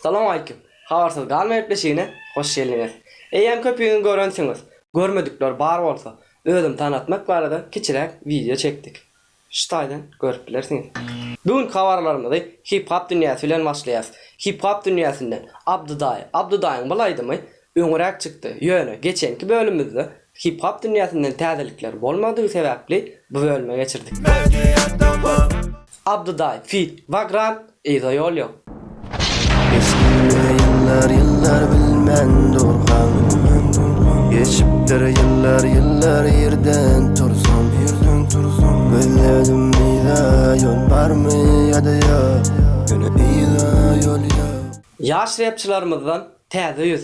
Salam aleýkum. Habarsyz galma gepleşigine hoş geldiňiz. Eýýäm köpügiňi görensiňiz. Görmedikler bar bolsa, özüni tanatmak barada kiçiräk wideo çekdik. Şu taýdan görüp bilersiňiz. Bu günki habarlarymyzy hip-hop dünýäsi bilen başlaýarys. Hip-hop dünýäsinden Abdydaý. Abdydaýyň bul aýdymy öňräk çykdy. Ýöne geçenki bölümimizde hip-hop dünýäsinden täzelikler bolmadygy sebäpli bu bölüme geçirdik. Abdydaý feat. Vagrant. Yza ýol ýok. Geçipdir ýyllar ýyllar bilmen durkaň Geçipdir ýyllar ýyllar ýerden tursaň Ýerden tursaň Gözledim yza ýol barmy ýa-da ýok Ýöne yza ýol ýok. Ýaş repçilarymyzdan täze ýüz.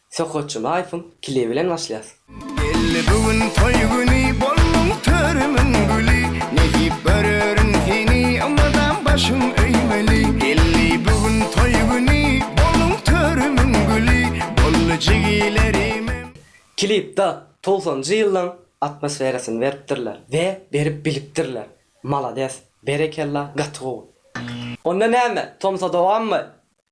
Sokakçy Laýfyň kili bilen başlaýas. Geldi bu gün toý güni Bolduň törümiň güli Nädip görerin seni Ymladam başym öýmeli Geldi bu gün toý güni Bolduň törümiň güli Boldy jigilerimem. Klipda togsanjy ýyllaň atmosferasyny beripdirler we berip bilipdirler malades berekella gaty gowy. Onda näme tomsa dowammy.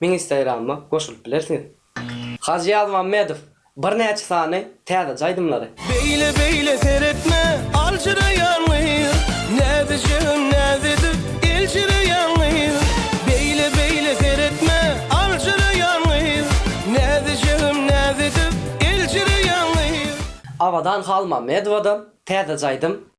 Meň instagramyma goşulyp bilersiňiz. Hajy Ýazmammedow birnäçe sany täzeçe aýdymlary. Beýle beýle seretme aljyraýan gyz Näzi jigim näzi edip eljireýän gyz Beýle beýle seretme aljyraýan gyz Näzi jigim näzi edip eljireýän gyz. Abadan Halmammedowadan täzeçe aýdym.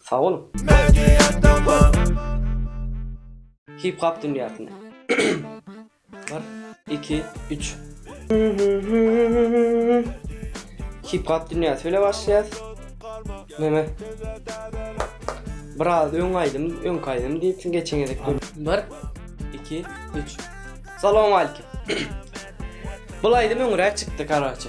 Sag boluň. Hip hop dünýäsine. Bir, iki, üç. Hip hop dünýäsi bile başlaýas. Meme. Biraz öň aýdym, öňki aýdym diýipsiň geçen gezek. Bir, iki, üç. Salam aleykum. Bul aýdym öňräk çykdy, karaçe.